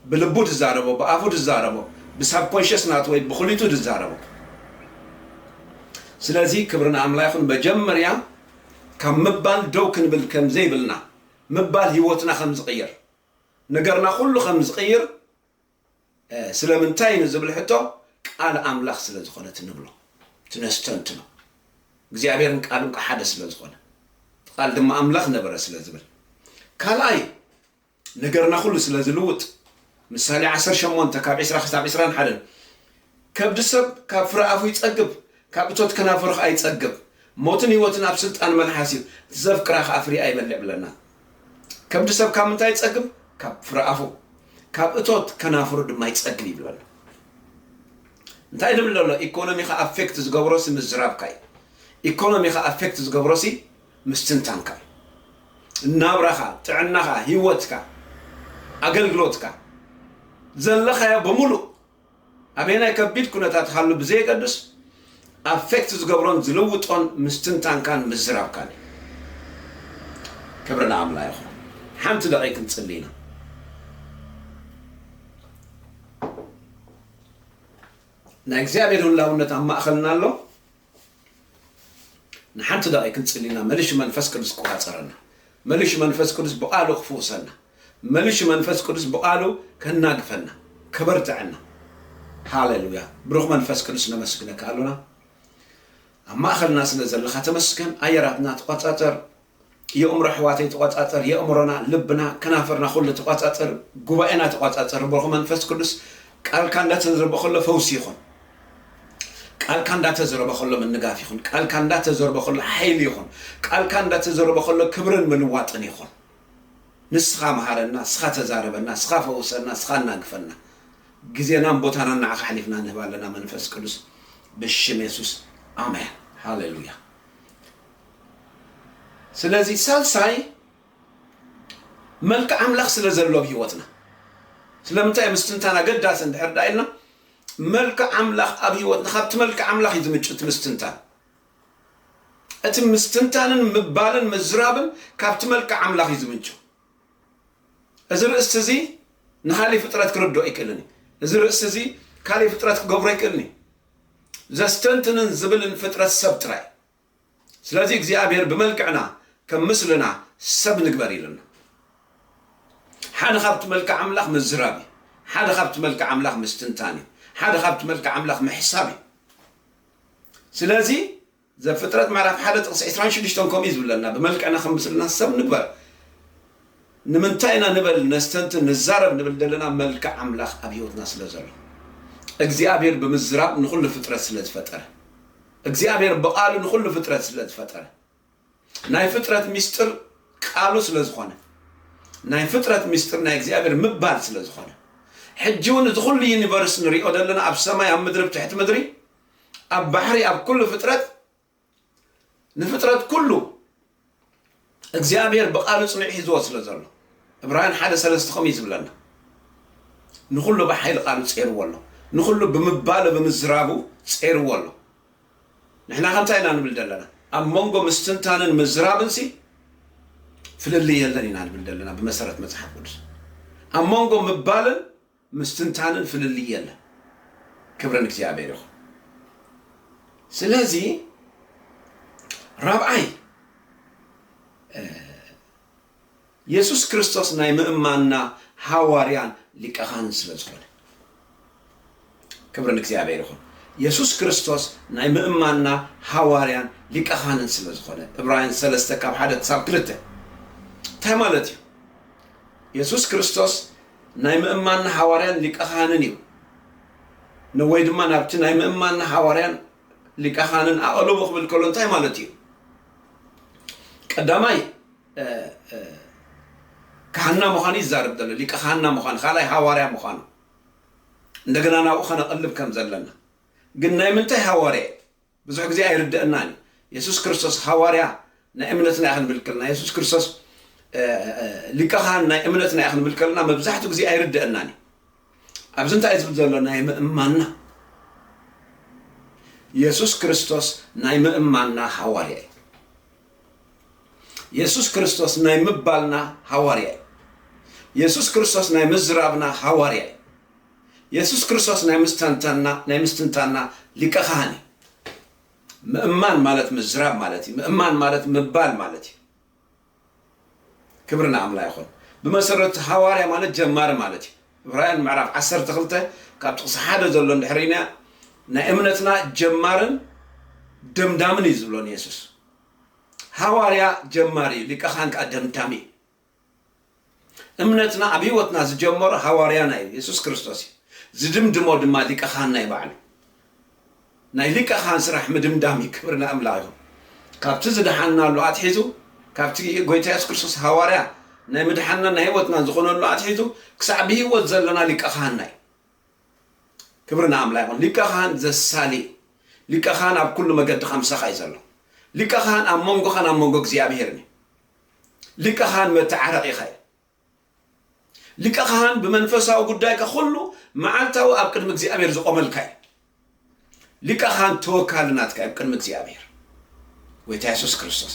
Speaker 1: ብልቡ ድዛረቦ፣ ብኣፉ ድዛረቦ፣ ብሳብኮንሸስ ናቱ ወይ ብኹሊቱ ድዛረቦ። ስለዚ ክብሪ ንኣምላ ይኹን። መጀመርያ ካብ ምባል ደው ክንብል ከም ዘይብልና፣ ምባል ህይወትና ከም ዝቕይር፣ ነገርና ኩሉ ከም ዝቕይር ስለምንታይ ንዝብል ሕቶ ቃል ኣምላኽ ስለ ዝኾነት ንብሎ እቲ ነስተንትኖ እግዚኣብሔርን ቃሉን ከ ሓደ ስለ ዝኾነ እቲ ቃል ድማ ኣምላኽ ነበረ ስለ ዝብል ካልኣይ ነገርና ኩሉ ስለ ዝልውጥ ምሳሌ ዓሰርተ ሸሞንተ ካብ ዕስራ ክሳብ ዕስራን ሓደን ከብዲ ሰብ ካብ ፍረ ኣፉ ይጸግብ፣ ካብ እቶት ከናፍሩ ኸኣ ይጸግብ። ሞትን ህይወትን ኣብ ስልጣን መልሓስ እዩ፣ እቲ ዘፍቅራ ኸኣ ፍሪኣ ይበልዕ ብለና። ከብዲ ሰብ ካብ ምንታይ ይጸግብ? ካብ ፍረ ኣፉ፣ ካብ እቶት ከናፍሩ ድማ ይጸግብ እዩ ብለና። እንታይ ንብል ዘሎ? ኢኮኖሚኻ ኣፌክት ዝገብሮሲ ምዝራብካ እዩ። ኢኮኖሚኻ ኣፌክት ዝገብሮሲ ምስትንታንካ እዩ። ናብራኻ፣ ጥዕናኻ፣ ህይወትካ፣ ኣገልግሎትካ፣ ዘለኻዮ ብምሉእ ኣበየናይ ከቢድ ኩነታት ሃሉ ብዘየገድስ ኣፌክት ዝገብሮን ዝልውጦን ምስትንታንካን ምዝራብካን እዩ። ክብሪ ንኣምላ ይኹን። ሓንቲ ደቒቅ ክንጽሊ ኢና። ናይ እግዚኣብሔር ህላውነት ኣብ ማእኸልና ኣሎ። ንሓንቲ ደቒ ክንጽሊ ኢና መልሹ መንፈስ ቅዱስ ክቋጸረና መልሹ መንፈስ ቅዱስ ብቓሉ ክፍውሰና መልሹ መንፈስ ቅዱስ ብቓሉ ከናግፈና ከበርትዐና ሃሌሉያ ብሩኽ መንፈስ ቅዱስ ነመስግነካ ኣሎና ኣብ ማእኸልና ስለ ዘለኻ ተመስገን ኣየራትና ተቆጻጸር የእምሮ ኣሕዋተይ ተቆጻጸር የእምሮና ልብና ከናፍርና ኩሉ ተቆጻጸር ጉባኤና ተቆጻጸር ብሩኽ መንፈስ ቅዱስ ቃልካ እንዳተዘርበ ከሎ ፈውሲ ይኹን ቃልካ እንዳተዘረበ ከሎ ምንጋፍ ይኹን ቃልካ እንዳተዘረበ ከሎ ሓይሊ ይኹን ቃልካ እንዳተዘረበ ከሎ ክብርን ምልዋጥን ይኹን ንስኻ መሃረና ንስኻ ተዛረበና ንስኻ ፈውሰና ንስኻ እናግፈና ግዜናን ቦታናን ንዓኻ ሓሊፍና ንህብ ኣለና መንፈስ ቅዱስ ብሽም የሱስ ኣሜን ሃሌሉያ ስለዚ ሳልሳይ መልክዕ ኣምላኽ ስለ ዘሎ ኣብ ህይወትና ስለምንታይ እዩ ምስትንታን ኣገዳሲ እንድሕር ዳ ኢልና መልክዕ ኣምላኽ ኣብ ህይወትና ካብቲ መልክዕ ኣምላኽ እዩ ዝምጭ እቲ ምስትንታን እቲ ምስትንታንን ምባልን ምዝራብን ካብቲ መልክዕ ኣምላኽ እዩ ዝምንጩ እዚ ርእስቲ እዚ ንካሊእ ፍጥረት ክርድኦ ኣይክእልን እዩ እዚ ርእስቲ እዚ ካሊእ ፍጥረት ክገብሮ ኣይክእልን እዩ ዘስተንትንን ዝብልን ፍጥረት ሰብ ጥራይ ስለዚ እግዚኣብሔር ብመልክዕና ከም ምስልና ሰብ ንግበር ኢሉና። ሓደ ካብቲ መልክዕ ኣምላኽ ምዝራብ እዩ። ሓደ ካብቲ መልክዕ ኣምላኽ ምስትንታን እዩ። ሓደ ካብቲ መልክዕ ኣምላኽ ምሕሳብ እዩ። ስለዚ ዘፍጥረት ምዕራፍ ሓደ ጥቕሲ ዕስራን ሽዱሽተን ከምኡ እዩ ዝብለና ብመልክዕና ከም ምስልና ሰብ ንግበር ንምንታይ ኢና ንበል ነስተንትን ንዛረብ ንብል ዘለና መልክዕ ኣምላኽ ኣብ ህይወትና ስለ ዘሎ እግዚኣብሔር ብምዝራብ ንኹሉ ፍጥረት ስለ ዝፈጠረ እግዚኣብሔር ብቃሉ ንኩሉ ፍጥረት ስለ ዝፈጠረ ናይ ፍጥረት ሚስጥር ቃሉ ስለ ዝኮነ ናይ ፍጥረት ሚስጥር ናይ እግዚኣብሔር ምባል ስለ ዝኮነ ሕጂ እውን እዚ ኩሉ ዩኒቨርስ ንሪኦ ዘለና ኣብ ሰማይ ኣብ ምድሪ ብትሕቲ ምድሪ ኣብ ባሕሪ ኣብ ኩሉ ፍጥረት ንፍጥረት ኩሉ እግዚኣብሔር ብቃሉ ጽኑዕ ሒዝዎ ስለ ዘሎ ዕብራውያን ሓደ ሰለስተ ከምኡ እዩ ዝብለና ንኹሉ ብሓይሊ ቃሉ ጼርዎ ኣሎ ንኹሉ ብምባሉ ብምዝራቡ ጼርዎ ኣሎ ንሕና ከምታይ ኢና ንብል ዘለና ኣብ መንጎ ምስትንታንን ምዝራብን ሲ ፍልልይ የለን ኢና ንብል ዘለና ብመሰረት መጽሓፍ ቅዱስ ኣብ መንጎ ምባልን ምስትንታንን ፍልልይ የለን ክብሪ ንእግዚኣብሔር ይኹን ስለዚ ራብዓይ የሱስ ክርስቶስ ናይ ምእማንና ሃዋርያን ሊቀ ካህንን ስለ ዝኾነ ክብሪ ንእግዚኣብሔር ይኹን የሱስ ክርስቶስ ናይ ምእማንና ሃዋርያን ሊቀ ካህንን ስለ ዝኾነ እብራውያን ሰለስተ ካብ ሓደ ክሳብ ክልተ እንታይ ማለት እዩ የሱስ ክርስቶስ ናይ ምእማንና ሓዋርያን ሊቀ ኻህንን እዩ ን ወይ ድማ ናብቲ ናይ ምእማንና ሓዋርያን ሊቀ ኻህንን ኣቐልቦ ክብል ከሎ እንታይ ማለት እዩ? ቀዳማይ ካህንና ምዃኑ ይዛረብ ዘሎ፣ ሊቀ ካህንና ምዃኑ፣ ካልኣይ ሃዋርያ ምዃኑ እንደገና ናብኡ ከነቐልብ ከም ዘለና ግን ናይ ምንታይ ሃዋርያ እዩ? ብዙሕ ግዜ ኣይርደኣናን እዩ የሱስ ክርስቶስ ሃዋርያ ናይ እምነትና እዩ ክንብል ከለና የሱስ ክርስቶስ ሊቀ ካህን ናይ እምነትና እዩ ክንብል ከለና መብዛሕትኡ ግዜ ኣይርደኣናን እዩ ኣብዚ እንታይ ዝብል ዘሎ ናይ ምእማንና የሱስ ክርስቶስ ናይ ምእማንና ሃዋርያ እዩ የሱስ ክርስቶስ ናይ ምባልና ሃዋርያ እዩ የሱስ ክርስቶስ ናይ ምዝራብና ሃዋርያ እዩ የሱስ ክርስቶስ ናይ ምስተንተና ናይ ምስትንታና ሊቀ ካህን እዩ። ምእማን ማለት ምዝራብ ማለት እዩ። ምእማን ማለት ምባል ማለት እዩ። ክብሪ ንኣምላ ይኹን። ብመሰረት ሃዋርያ ማለት ጀማሪ ማለት እዩ። ዕብራውያን ምዕራፍ ዓሰርተ ክልተ ካብ ጥቕሲ ሓደ ዘሎ እንድሕር ኢና ናይ እምነትና ጀማርን ደምዳምን እዩ ዝብሎ ንየሱስ። ሃዋርያ ጀማሪ እዩ፣ ሊቀ ካህን ከዓ ደምዳሚ እዩ። እምነትና ኣብ ህይወትና ዝጀመሮ ሃዋርያና እዩ፣ የሱስ ክርስቶስ እዩ። ዝድምድሞ ድማ ሊቀ ካህንና እዩ ባዕሉ። ናይ ሊቀ ካህን ስራሕ ምድምዳም እዩ፣ ክብሪ ንኣምላኽ ይኹን። ካብቲ ዝደሓንናሉ ኣትሒዙ፣ ካብቲ ጎይታ የሱስ ክርስቶስ ሃዋርያ ናይ ምድሓንናን ናይ ህይወትናን ዝኾነሉ ኣትሒዙ ክሳዕ ብህይወት ዘለና ሊቀ ካህንና እዩ። ክብሪ ንኣምላኽ ይኹን። ሊቀ ካህን ዘሳሊ እዩ። ሊቀ ካህን ኣብ ኩሉ መገድኻ ምሳኻ እዩ ዘሎ። ሊቀ ካህን ኣብ መንጎኻን ኣብ መንጎ እግዚኣብሄርን እዩ። ሊቀ ኻህን መተዓረቒኻ እዩ። ሊቀ ኻህን ብመንፈሳዊ ጉዳይካ ኩሉ መዓልታዊ ኣብ ቅድሚ እግዚኣብሔር ዝቆመልካ እዩ። ሊቀ ኻህን ተወካሊ ናትካ ኣብ ቅድሚ እግዚኣብሔር ጎይታ የሱስ ክርስቶስ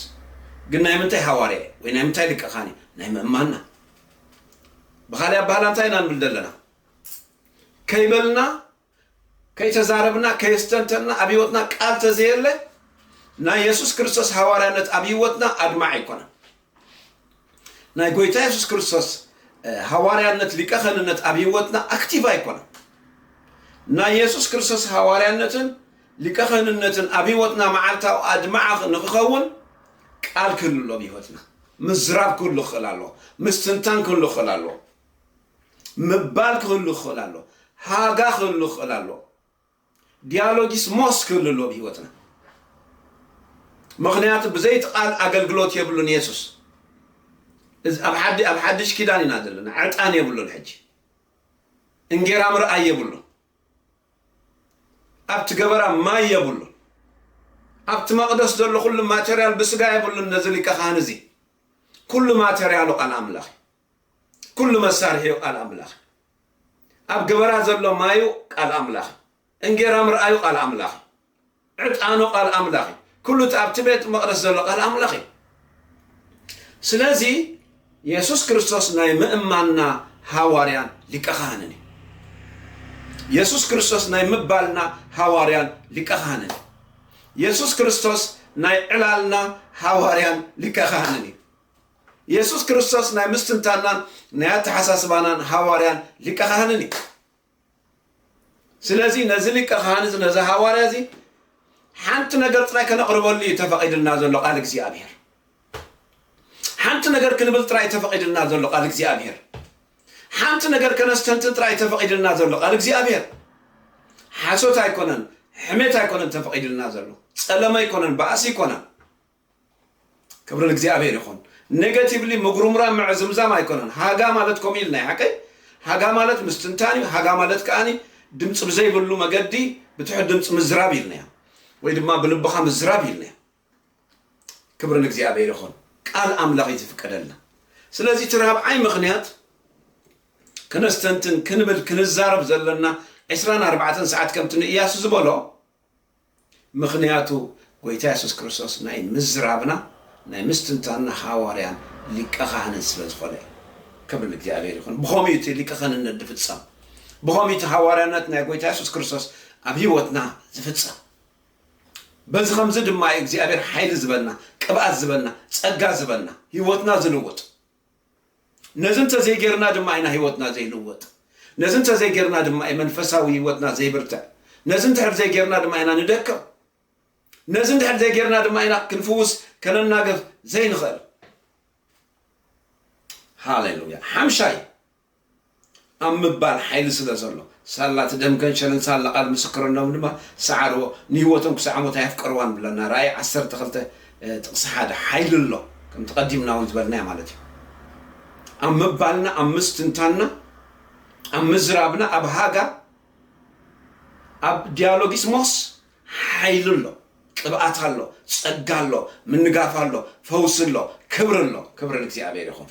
Speaker 1: ግን ናይ ምንታይ ሃዋርያ እዩ ወይ ናይ ምንታይ ሊቀ ኻህን እዩ ናይ ምእማንና ብኻሊእ ኣባህላ እንታይ ኢና ንብል ዘለና ከይበልና ከይተዛረብና ከየስተንተንና ኣብ ህይወትና ቃል ተዘየለ ናይ የሱስ ክርስቶስ ሃዋርያነት ኣብ ህይወትና ኣድማዕ ኣይኮነን ናይ ጎይታ የሱስ ክርስቶስ ሃዋርያነት ሊቀ ከህንነት ኣብ ህይወትና ኣክቲቭ ኣይኮነን ናይ የሱስ ክርስቶስ ሃዋርያነትን ሊቀ ከህንነትን ኣብ ህይወትና መዓልታዊ ኣድማዕ ንክኸውን ቃል ክህሉ ኣሎ ብህይወትና ምዝራብ ክህሉ ክኽእል ኣለዎ ምስትንታን ክህሉ ክኽእል ኣለዎ ምባል ክህሉ ክኽእል ኣሎ። ሃጋ ክህሉ ክኽእል ኣሎ። ዲያሎጊስ ሞስ ክህሉ ኣሎ ብህይወትና። ምኽንያቱ ብዘይቲ ቃል ኣገልግሎት የብሉን የሱስ። እዚ ኣብ ሓዲ ኣብ ሓድሽ ኪዳን ኢና ዘለና። ዕጣን የብሉን ሕጂ። እንጌራ ምርኣይ የብሉን። ኣብቲ ገበራ ማይ የብሉን። ኣብቲ መቕደስ ዘሎ ኩሉ ማተርያል ብስጋ የብሉን ነዚ ሊቀ ካህን እዚ። ኩሉ ማተርያሉ ቃል ኣምላኽ እዩ። ኩሉ መሳርሒኡ ቃል ኣምላኽ እዩ። ኣብ ገበራ ዘሎ ማዩ ቃል ኣምላኽ እዩ። እንጌራ ምርኣዩ ቃል ኣምላኽ እዩ። ዕጣኑ ቃል ኣምላኽ እዩ። ኩሉ እቲ ኣብቲ ቤት መቕደስ ዘሎ ቃል ኣምላኽ እዩ። ስለዚ የሱስ ክርስቶስ ናይ ምእማንና ሃዋርያን ሊቀ ካህንን እዩ። የሱስ ክርስቶስ ናይ ምባልና ሃዋርያን ሊቀ ካህንን እዩ። የሱስ ክርስቶስ ናይ ዕላልና ሃዋርያን ሊቀ ካህንን እዩ። የሱስ ክርስቶስ ናይ ምስትንታንናን ናይ ኣተሓሳስባናን ሃዋርያን ሊቀ ካህንን እዩ። ስለዚ ነዚ ሊቀ ካህን እዚ ነዚ ሃዋርያ እዚ ሓንቲ ነገር ጥራይ ከነቕርበሉ እዩ ተፈቒድልና ዘሎ ቃል እግዚኣብሔር። ሓንቲ ነገር ክንብል ጥራይ ተፈቒድልና ዘሎ ቃል እግዚኣብሔር። ሓንቲ ነገር ከነስተንትን ጥራይ ተፈቒድልና ዘሎ ቃል እግዚኣብሔር። ሓሶት ኣይኮነን፣ ሕሜት ኣይኮነን ተፈቒድልና ዘሎ ጸለመ ኣይኮነን፣ ባእሲ ኣይኮነን። ክብሪ ንእግዚኣብሔር ይኹን ኔጋቲቭሊ ምጉርምራም ምዕዝምዛም ኣይኮነን ሃጋ ማለት ከምኡ ኢልና ሓቀይ ሃጋ ማለት ምስትንታን እዩ ሃጋ ማለት ከዓኒ ድምፂ ብዘይብሉ መገዲ ብትሑት ድምፂ ምዝራብ ኢልና እዮም ወይ ድማ ብልብኻ ምዝራብ ኢልና እዮም ክብሪ ንእግዚኣብሔር ይኹን ቃል ኣምላኽ እዩ ዝፍቀደልና ስለዚ እቲ ራብዓይ ምኽንያት ክነስተንትን ክንብል ክንዛረብ ዘለና ዕስራን ኣርባዕተን ሰዓት ከምቲ ንእያሱ ዝበሎ ምኽንያቱ ጎይታ የሱስ ክርስቶስ ናይ ምዝራብና ናይ ምስትንታንና ሃዋርያን ሊቀ ኻህንን ስለ ዝኾነ እዩ። ክብሪ ንእግዚኣብሄር ይኹን። ብኸምኡ እዩ እቲ ሊቀ ኸህንነት ዝፍጸም። ብኸምኡ እዩ እቲ ሃዋርያነት ናይ ጎይታ የሱስ ክርስቶስ ኣብ ህይወትና ዝፍጸም። በዚ ኸምዚ ድማ እዩ እግዚኣብሄር ሓይሊ ዝበና፣ ቅብኣት ዝበና፣ ጸጋ ዝበና፣ ህይወትና ዝልውጥ። ነዚ እንተ ዘይጌርና ድማ ኢና ህይወትና ዘይልወጥ። ነዚ እንተ ዘይጌርና ድማ እዩ መንፈሳዊ ህይወትና ዘይብርትዕ። ነዚ እንድሕር ዘይጌርና ድማ ኢና ንደክም። ነዚ እንድሕር ዘይጌርና ድማ ኢና ክንፍውስ ከነናግፍ ዘይንኽእል። ሃሌሉያ! ሓምሻይ ኣብ ምባል ሓይሊ ስለ ዘሎ፣ ሳላ እቲ ደም ገንሸልን ሳላ ቃል ምስክርነቶም ድማ ሰዓርዎ፣ ንህይወቶም ክሳዕ ሞት ኣየፍቀርዋን ይብለና፣ ራእይ ዓሰርተ ክልተ ጥቕሲ ሓደ። ሓይሊ ኣሎ፣ ከምቲ ቀዲምና እውን ዝበልናዮ ማለት እዩ። ኣብ ምባልና፣ ኣብ ምስትንታንና፣ ኣብ ምዝራብና፣ ኣብ ሃጋ፣ ኣብ ዲያሎጊስ ሞስ ሓይሊ ኣሎ፣ ቅብኣት ኣሎ፣ ጸጋ ኣሎ፣ ምንጋፍ ኣሎ፣ ፈውሲ ኣሎ፣ ክብሪ ኣሎ፣ ክብሪ ንእግዚኣብሔር ይኹን።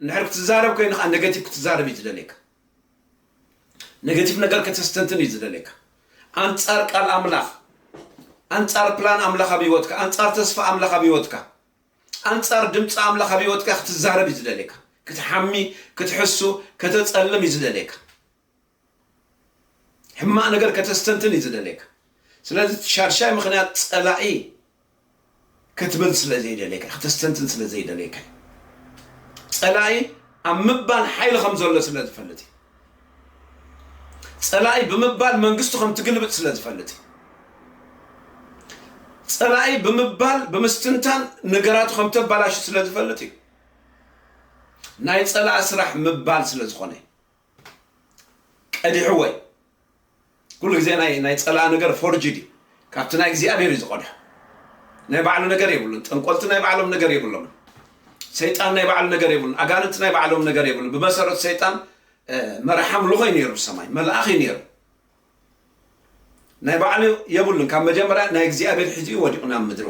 Speaker 1: እንድሕር ክትዛረብ ኮይኑ ከኣ ነገቲቭ ክትዛረብ እዩ ዝደልየካ ነገቲቭ ነገር ከተስተንትን እዩ ዝደልየካ ኣንጻር ቃል ኣምላኽ ኣንጻር ፕላን ኣምላኽ ኣብ ህይወትካ ኣንጻር ተስፋ ኣምላኽ ኣብ ህይወትካ ኣንጻር ድምፂ ኣምላኽ ኣብ ህይወትካ ክትዛረብ እዩ ዝደልየካ ክትሓሚ ክትሕሱ ከተጸልም እዩ ዝደልየካ ሕማቅ ነገር ከተስተንትን እዩ ዝደልየካ ስለዚ እቲ ሻድሻይ ምክንያት ጸላኢ ክትብል ስለ ዘይደልየካ ከተስተንትን ስለ ዘይደልየካ እዩ ጸላኢ ኣብ ምባል ሓይሊ ከም ዘሎ ስለ ዝፈልጥ እዩ ጸላኢ ብምባል መንግስቱ ከም ትግልብጥ ስለ ዝፈልጥ እዩ ጸላኢ ብምባል ብምስትንታን ነገራቱ ከም ተባላሹ ስለ ዝፈልጥ እዩ ናይ ጸላኢ ስራሕ ምባል ስለ ዝኾነ እዩ ቀዲሑ ወይ ኩሉ ግዜ ናይ ናይ ጸላእ ነገር ፎርጅድ እዩ ካብቲ ናይ እግዚኣብሔር እዩ ዝቀድሖ ናይ ባዕሉ ነገር የብሉን ጠንቆልቲ ናይ ባዕሎም ነገር የብሎም ሰይጣን ናይ ባዕሉ ነገር የብሉን ኣጋንንቲ ናይ ባዕሎም ነገር የብሉን ብመሰረት ሰይጣን መራሕ ኣምልኾ እዩ ነይሩ ሰማይ መልኣኽ እዩ ነይሩ ናይ ባዕሉ የብሉን ካብ መጀመርያ ናይ እግዚኣብሔር ሒዙ እዩ ወዲቁ ናብ ምድሩ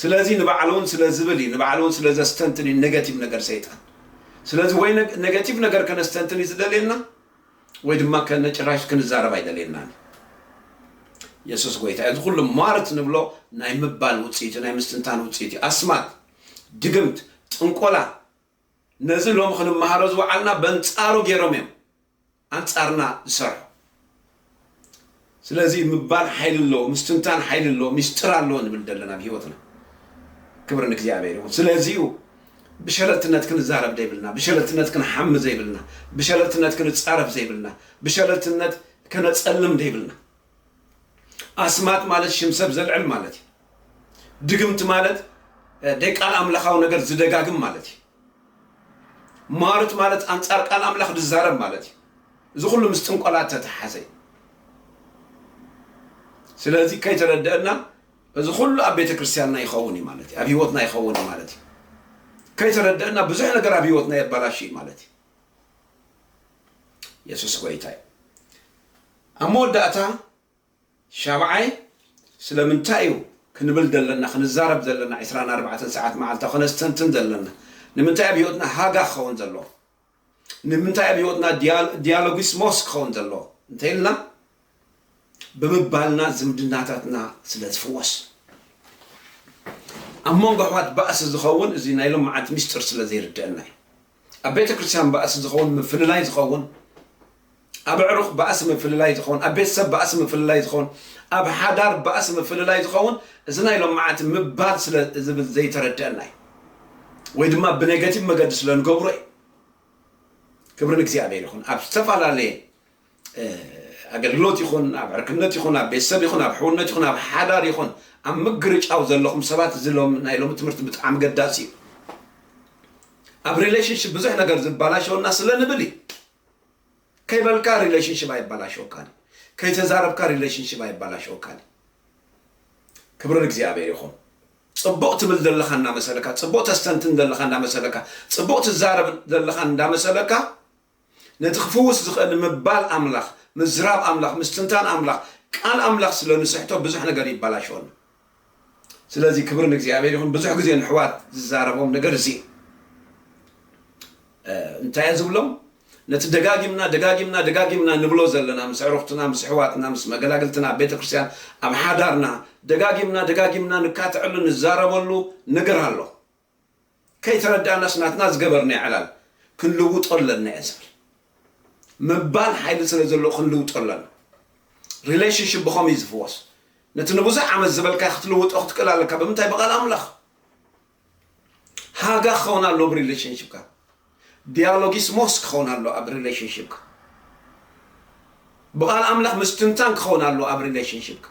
Speaker 1: ስለዚ ንባዕሉ ውን ስለ ዝብል እዩ ንባዕሉ ውን ስለ ዘስተንትን እዩ ነገቲቭ ነገር ሰይጣን ስለዚ ወይ ነገቲቭ ነገር ከነስተንትን እዩ ዝደልየና ወይ ድማ ከነጭራሽ ክንዛረብ ኣይደልየናን እዩ የሱስ ጎይታ እዩ። እዚ ኩሉ ሟርት ንብሎ ናይ ምባል ውፅኢት እዩ፣ ናይ ምስትንታን ውፅኢት እዩ። ኣስማት፣ ድግምት፣ ጥንቆላ ነዚ ሎሚ ክንመሃሮ ዝወዓልና በንፃሩ ገይሮም እዮም። ኣንጻርና ዝሰርሑ ስለዚ ምባል ሓይሊ ኣለዎ ምስትንታን ሓይሊ ኣለዎ ሚስጥር ኣለዎ ንብል ዘለና ኣብ ሂወትና ክብሪ ንእግዚኣብሔር ይኹን ስለዚ እዩ ብሸለልትነት ክንዛረብ ዘይብልና ብሸለልትነት ክንሓሚ ዘይብልና ብሸለልትነት ክንጻረፍ ዘይብልና ብሸለልትነት ከነጸልም ዘይብልና ኣስማት ማለት ሽም ሰብ ዘልዕል ማለት እዩ ድግምቲ ማለት ደቃል ኣምላኻዊ ነገር ዝደጋግም ማለት እዩ ሟርት ማለት ኣንጻር ቃል ኣምላኽ ድዛረብ ማለት እዩ። እዚ ኩሉ ምስ ጥንቆላ እተተሓዘ እዩ። ስለዚ ከይተረደአና እዚ ኩሉ ኣብ ቤተ ክርስቲያንና ይኸውን እዩ ማለት እዩ። ኣብ ህይወትና ይኸውን እዩ ማለት እዩ። ከይተረደአና ብዙሕ ነገር ኣብ ህይወትና የባላሽ እዩ ማለት እዩ። የሱስ ጎይታ እዩ። ኣብ መወዳእታ ሻብዓይ፣ ስለምንታይ እዩ ክንብል ዘለና፣ ክንዛረብ ዘለና፣ ዕስራን ኣርባዕተን ሰዓት መዓልታዊ ከነስተንትን ዘለና፣ ንምንታይ ኣብ ህይወትና ሃጋ ክኸውን ዘለዎ፣ ንምንታይ ኣብ ህይወትና ዲያሎጊስሞስ ክኸውን ዘለዎ እንተይልና ብምባልና ዝምድናታትና ስለ ዝፍወስ። ኣብ መንጎ ኣሕዋት ባእሲ ዝኸውን እዚ ናይ ሎምዓንቲ ምስጢር ስለ ዘይርደኣና እዩ። ኣብ ቤተ ክርስቲያን ባእሲ ዝኸውን ምፍልላይ ዝኸውን ኣብ ኣዕሩኽ ባእሲ ምፍልላይ ዝኸውን ኣብ ቤተሰብ ባእሲ ምፍልላይ ዝኸውን ኣብ ሓዳር ባእሲ ምፍልላይ ዝኸውን እዚ ናይ ሎም መዓልቲ ምባል ስለ ዝብል ዘይተረድአና እዩ ወይ ድማ ብኔጋቲቭ መገዲ ስለ ንገብሮ እዩ ክብሪ ንእግዚኣብሔር ይኹን ኣብ ዝተፈላለየ ኣገልግሎት ይኹን ኣብ ዕርክነት ይኹን ኣብ ቤተሰብ ይኹን ኣብ ሕውነት ይኹን ኣብ ሓዳር ይኹን ኣብ ምግርጫው ዘለኹም ሰባት እዚ ናይ ሎሚ ትምህርቲ ብጣዕሚ ገዳሲ እዩ ኣብ ሪሌሽንሽፕ ብዙሕ ነገር ዝበላሸወና ስለ ንብል እዩ ከይበልካ ሪሌሽንሽፕ ኣይበላሸወካን እዩ ከይተዛረብካ ሪሌሽንሽፕ ኣይበላሸወካን እዩ ክብሪ እግዚኣብሔር ይኹን ፅቡቅ ትብል ዘለካ እናመሰለካ ፅቡቅ ተስተንትን ዘለካ እናመሰለካ ፅቡቅ ትዛረብ ዘለካ እንዳመሰለካ ነቲ ክፍውስ ዝኽእል ምባል ኣምላኽ፣ ምዝራብ ኣምላኽ፣ ምስትንታን ኣምላኽ፣ ቃል ኣምላኽ ስለ ንስሕቶ ብዙሕ ነገር ይባላሸወና። ስለዚ ክብሪ ንእግዚኣብሔር ይኹን ብዙሕ ግዜ ንሕዋት ዝዛረቦም ነገር እዚ እዩ። እንታይ እየ ዝብሎም ነቲ ደጋጊምና ደጋጊምና ደጋጊምና ንብሎ ዘለና ምስ ዕሩኽትና ምስ ኣሕዋትና ምስ መገላግልትና ኣብ ቤተ ክርስቲያን ኣብ ሓዳርና ደጋጊምና ደጋጊምና ንካትዐሉ ንዛረበሉ ነገር ኣሎ። ከይተረዳእናስ ናትና ዝገበርናዮ ዕላል ክንልውጦ ኣለና እየ ዝብል ምባል ሓይሊ ስለ ዘለዎ ክንልውጦ ኣለና ሪሌሽንሽፕ ብኸምይ ዝፍወስ ነቲ ንብዙሕ ዓመት ዝበልካዮ ክትልውጦ ክትክእል ኣለካ ብምንታይ ብቓል ኣምላኽ ሃጋ ክኸውን ኣለዎ ብሪሌሽንሽፕካ ዲያሎጊስሞስ ክኸውን ኣለዎ ኣብ ሪለሽንሺፕካ ብቃል ኣምላኽ ምስትንታን ክኸውን ኣለዎ ኣብ ሪለሽንሺፕካ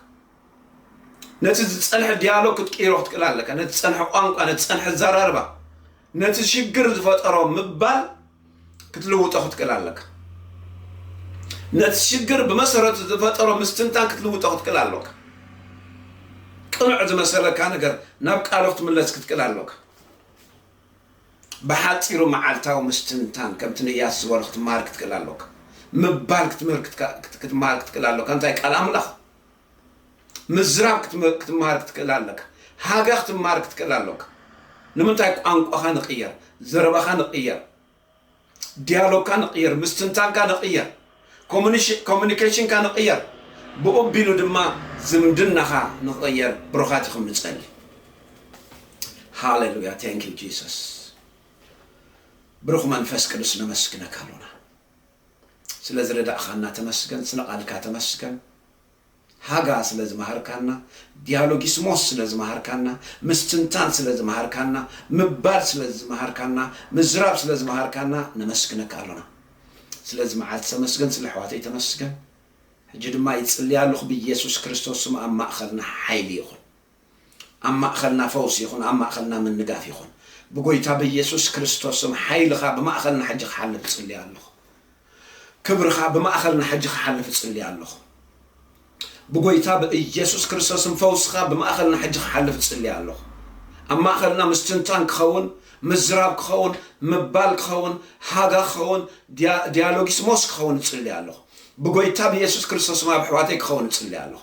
Speaker 1: ነቲ ዝጸንሐ ዲያሎግ ክትቅይሮ ክትክእል ኣለካ ነቲ ዝጸንሐ ቋንቋ ነቲ ዝጸንሐ ኣዘራርባ ነቲ ሽግር ዝፈጠሮ ምባል ክትልውጦ ክትክእል ኣለካ ነቲ ሽግር ብመሰረቱ ዝፈጠሮ ምስትንታን ክትልውጦ ክትክእል ኣለካ ቅኑዕ ዝመሰለካ ነገር ናብ ቃሉ ክትምለስ ክትክእል ኣለካ ብሓጺሩ መዓልታዊ ምስትንታን ከም ትንያስ ዝበሎ ክትመሃር ክትክእል ኣሎካ። ምባል ክትምህር ክትመሃር ክትክእል ኣሎካ እንታይ ቃል ኣምላኽ ምዝራብ ክትመሃር ክትክእል ኣለካ። ሃገ ክትመሃር ክትክእል ኣሎካ። ንምንታይ ቋንቋኻ ንቕየር፣ ዘረባኻ ንቕየር፣ ዲያሎግካ ንቕይር፣ ምስትንታንካ ንቕይር፣ ኮሙኒኬሽንካ ንቕይር፣ ብኡ ኣቢሉ ድማ ዝምድናኻ ንኽቕየር ብሩኻት ኢኹም ንጸሊ። ሃሌሉያ ቴንክ ዩ ጂሰስ ብሩኽ መንፈስ ቅዱስ ነመስግነካ ኣሎና ስለ ዝረዳእኻና ተመስገን ስለ ቃልካ ተመስገን ሃጋ ስለ ዝመሃርካና፣ ዲያሎጊስሞስ ስለ ዝመሃርካና፣ ምስትንታን ስለ ዝመሃርካና፣ ምባል ስለ ዝመሃርካና፣ ምዝራብ ስለ ዝመሃርካና ነመስግነካ ኣሎና። ስለዚ መዓልቲ ተመስገን ስለ ኣሕዋተይ ተመስገን። ሕጂ ድማ ይጽልይ ኣሎኹ ብየሱስ ክርስቶስ ስም ኣብ ማእኸልና ሓይሊ ይኹን። ኣብ ማእኸልና ፈውሲ ይኹን ኣብ ማእኸልና ምንጋፍ ይኹን ብጎይታ በየሱስ ክርስቶስ ስም ሓይልኻ ብማእኸልና ሕጂ ክሓልፍ እጽሊ ኣለኹ ክብርኻ ብማእኸልና ሕጂ ክሓልፍ እጽሊ ኣለኹ ብጎይታ ብእየሱስ ክርስቶስ ስም ፈውስኻ ብማእኸልና ሕጂ ክሓልፍ እጽሊ ኣለኹ ኣብ ማእኸልና ምስትንታን ክኸውን ምዝራብ ክኸውን ምባል ክኸውን ሃጋ ክኸውን ዲያሎጊስሞስ ክኸውን እጽሊ ኣለኹ ብጎይታ ብየሱስ ክርስቶስ ስም ኣብ ኣሕዋተይ ክኸውን እጽሊ ኣለኹ